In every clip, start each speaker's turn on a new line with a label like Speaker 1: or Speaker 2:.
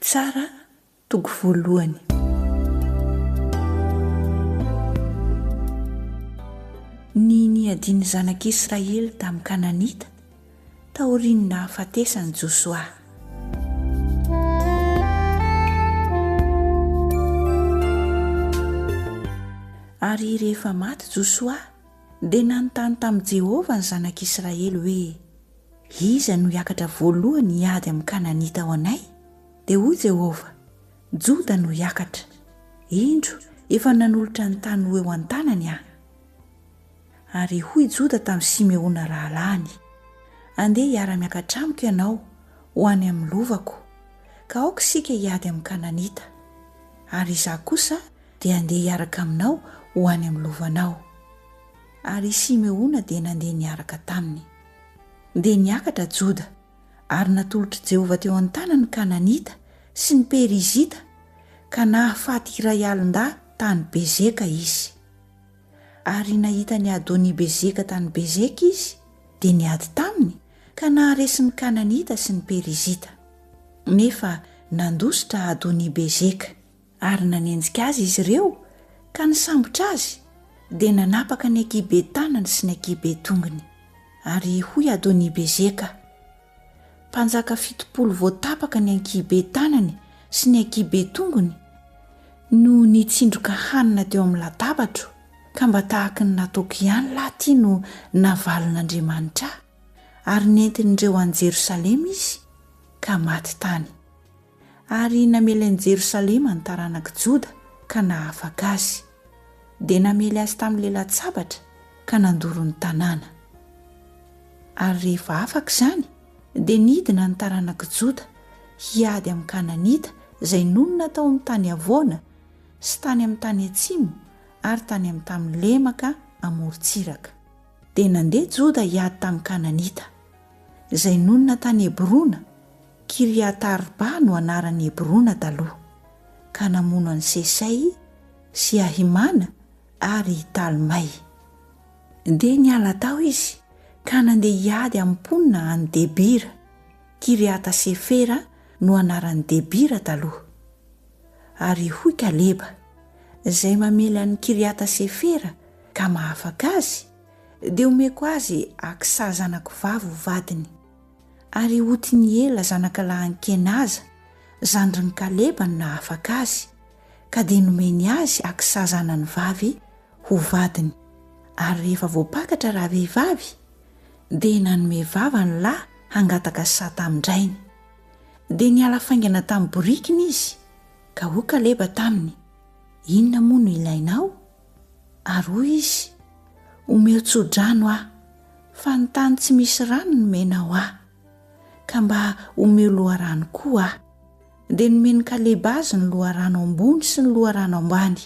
Speaker 1: Mpitsara toko voalohany. Ny niadian'ny zanak'Israely tamin'ny Kananita taorian'ny nahafatesan'i Josoa. Ary rehefa maty Josoa, dia nanontany tamin'i Jehovah ny zanak'Israely hoe. Iza no hiakatra voalohany hiady amin'ny Kananita ao anay? Dia hoy Jehovah, Joda no hiakatra. Indro, efa nanolotra ny tany ho eo an-tanany Aho. Ary hoy Joda tamin'i Simeona rahalahiny, Andeha hiara-miakatra amiko ianao ho any amin'ny lovako, ka aoka isika hiady amin'ny Kananita, ary Izaho kosa dia handeha hiaraka aminao ho any amin'ny lovanao. Ary i Simeona dia nandeha niaraka taminy. Dia niakatra Joda, ary natolotr'i Jehovah teo an-tanany ny Kananita sy ny Perizita, ka nahafaty iray alin-dahy tany Bezeka izy. Ary nahita an'i Adoni-bezeka tany Bezeka izy, dia niady taminy, ka naharesy ny Kananita sy ny Perizita. Nefa nandositra Adoni-bezeka. Ary nanenjika azy izy ireo ka nisambotra azy dia nanapaka ny ankihibe tanany sy ny ankihibe tongony. Ary hoy Adoni-bezeka, mpanjaka fitopolo voatapaka ny ankihibe tanany sy ny ankihibe tongony no nitsindroka hanina teo amin'ny latabatro, ka mba tahaky ny nataoko ihany lahy ity no navalin'Andriamanitra ahy, ary nentin'ireo any Jerosalema izy ka maty tany. ary namely an'i Jerosalema ny taranak'i Joda ka nahafaka azy. Dia namely azy tamin'ny lalan-tsabatra ka nandoro ny tanàna. Ary rehefa afaka izany, dia nidina ny taranak'i Joda hiady amin'ny Kananita izay nonina tao amin'ny tany havoana sy tany amin'ny tany atsimo ary tany amin'ny tany lemaka amorontsiraka. Dia nandeha Joda hiady tamin'ny Kananita, izay nonina tany Hebrona, Kiriata-arba no anaran'i Hebrona taloha, ka namono an'i Sesay sy Ahimana ary i Talmay. Dia niala tao izy ka nandeha hiady amin'ny mponina any Debira, Kiriata-sefera no anaran'i Debira taloha. Ary hoy Kaleba, izay mamely an'i Kiriata-sefera, ka mahafaka azy, dia omeko azy Aksa zanako vavy ho vadiny, ary Otiniela zanakalahin'i Kenaza, zandrin'i Kaleba no nahafaka azy, ka dia nomeny azy Aksa zanany vavy ho vadiny. Ary rehefa voapakatra ravehivavy, dia nanome vava ny lahy hangataka saha tamin-drainy. Dia niala faingana tamin'ny borikiny izy, ka hoy Kaleba taminy, Inona moa no ilainao? Ary hoy izy, Omeo tso-drano aho, fa ny tany tsy misy rano nomena ho ahy, ka mba omeo loharano koa aho. Dia nomen'i Kaleba azy ny loharano ambony sy ny loharano ambany.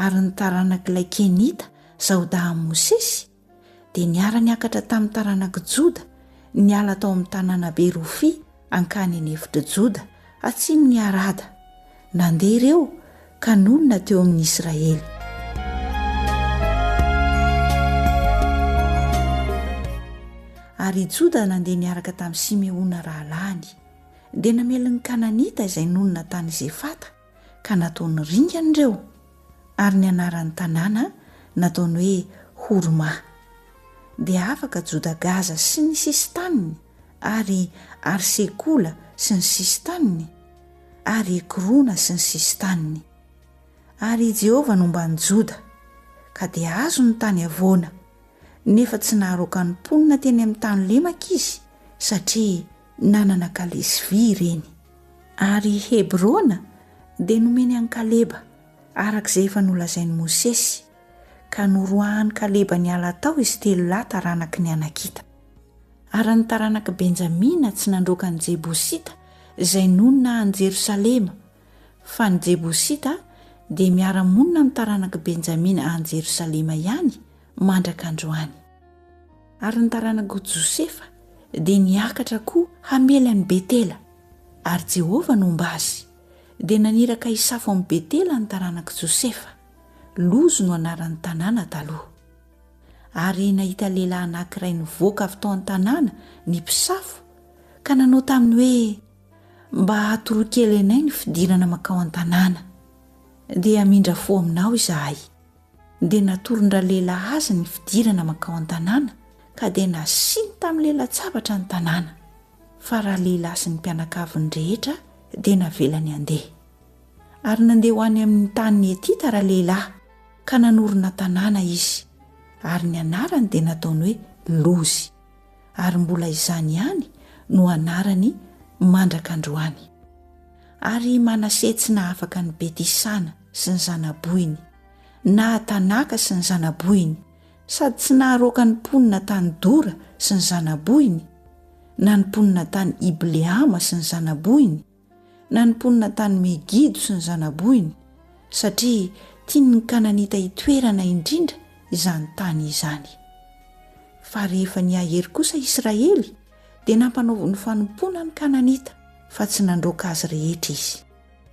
Speaker 1: Ary ny taranak'ilay Kenita zaodahin'i Mosesy, dia niara-niakatra tamin'ny taranak'i Joda niala tao amin'ny tanànabe Rofia hankany eny efitr'i Joda, atsimon'i Harada. Nandeha ireo ka nonina teo amin'ny Israely. Ary i Joda nandeha niaraka tamin'i Simeona rahalahiny. Dia namelin'ny Kananita izay nonina tany Zefata. ka nataony ringana ireo ary ny anaran'ny tanàna nataony hoe Horma. Dia afaka Joda-Gaza sy ny sisin-taniny ary Arsekola sy ny sisin-taniny ary Ekrona sy ny sisin-taniny. Ary i Jehovah nomba an'i Joda, ka dia azony ny tany havoana, nefa tsy naharoaka ny mponina teny amin'ny tany lemaka izy, satria Nanana kalesy vy ireny. Ary i Hebrona dia nomeny an'i Kaleba, araka izay efa nolazain'i Mosesy, ka noroahan'i Kaleba niala tao izy telo lahy taranaky ny Anakita. Ary ny taranak'i Benjamina tsy nandroaka ny Jebosita izay nonina any Jerosalema, fa ny Jebosita dia miara-monina amin'ny taranak'i Benjamina any Jerosalema ihany, mandraka androany. Ary ny taranak'i Josefa dia niakatra koa hamely an'i Betela, ary Jehovah nomba azy, dia naniraka hisafo amin'i Betela ny taranak'i Josefa, Lozy no anaran'ny tanàna taloha. Ary nahita lehilahy anankiray nivoaka avy tao an-tanàna ny mpisafo, ka nanao taminy hoe, Mba atoroy kely anay ny fidirana mankao an-tanàna, dia hamindra fo aminao izahay. dia natoron-dralehilahy azy ny fidirana mankao an-tanàna ka dia nasiany tamin'ny lelan-tsabatra ny tanàna, fa ralehilahy sy ny mpianakaviny rehetra dia navelany handeha. Ary nandeha ho any amin'ny tanin'ny Hetita ralehilahy ka nanorina tanàna izy, ary ny anarany dia nataony hoe Lozy. ary mbola izany ihany no anarany mandraka androany. Ary i Manase tsy nahafaka an'i Beti-sana sy ny zanabohiny, na Tanaka sy ny zanabohiny, sady tsy naharoaka ny mponina tany Dora sy ny zanabohiny, na ny mponina tany Ibleama sy ny zanabohiny, na ny mponina tany Megido sy ny zanabohiny, satria tian' ny Kananita hitoerana indrindra izany tany izany. Fa rehefa nihahery kosa Israely, dia nampanaoviny fanompoana ny Kananita, fa tsy nandroaka azy rehetra izy.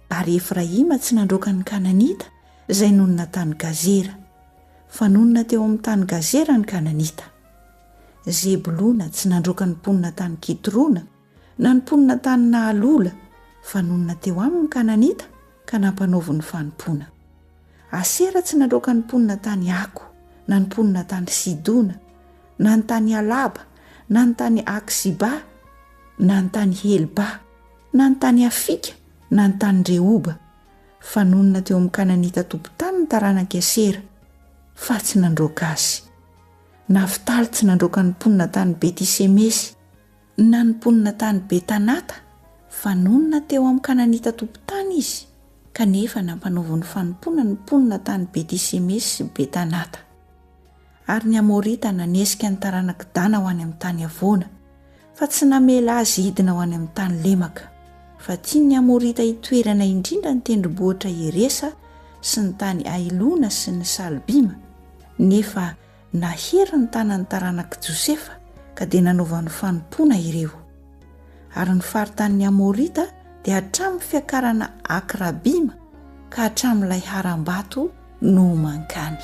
Speaker 1: Ary Efraima tsy nandroaka ny Kananita izay nonina tany Gazera, fa nonina teo amin' ny tany Gazera ny Kananita. Zebolona tsy nandroaka ny mponina tany Kitrona, Na ny mponina tany Nahalola, fa nonina teo aminy ny Kananita ka nampanaoviny ny fanompoana. Asera tsy nandroaka ny mponina tany Ako, na ny mponina tany Sidona, na ny tany Alaba, na ny tany Aksiba, na ny tany Helba, na ny tany Afika, na ny tany Rehoba, fa nonina teo amin'ny Kananita tompon-tany ny taranak'i Asera, fa tsy nandroaka azy. Naftaly tsy nandroaka ny mponina tany Beti-semesy. Nanomponina tany Betanata, fanonona teo amin'ny Kananita tompon-tany izy, kanefa nampanaoviny ho fanompoana ny mponina tany Beti-semesy sy Betanata. Ary ny Amorita nanesika ny taranak'i Dana ho any amin'ny tany havoana, fa tsy namela azy hidina ho any amin'ny tany lemaka, fa tian'ny Amorita hitoerana indrindra ny tendrombohitra Heresa sy ny tany Ailona sy ny Salbima, nefa Nahery ny tanan'ny taranak'i Josefa ka dia nanaovany fanompoana ireo. Ary ny faritanin'ny Amorita dia hatramin'ny fiakarana Akrabima ka hatramin'ilay harambato nohoman-kany.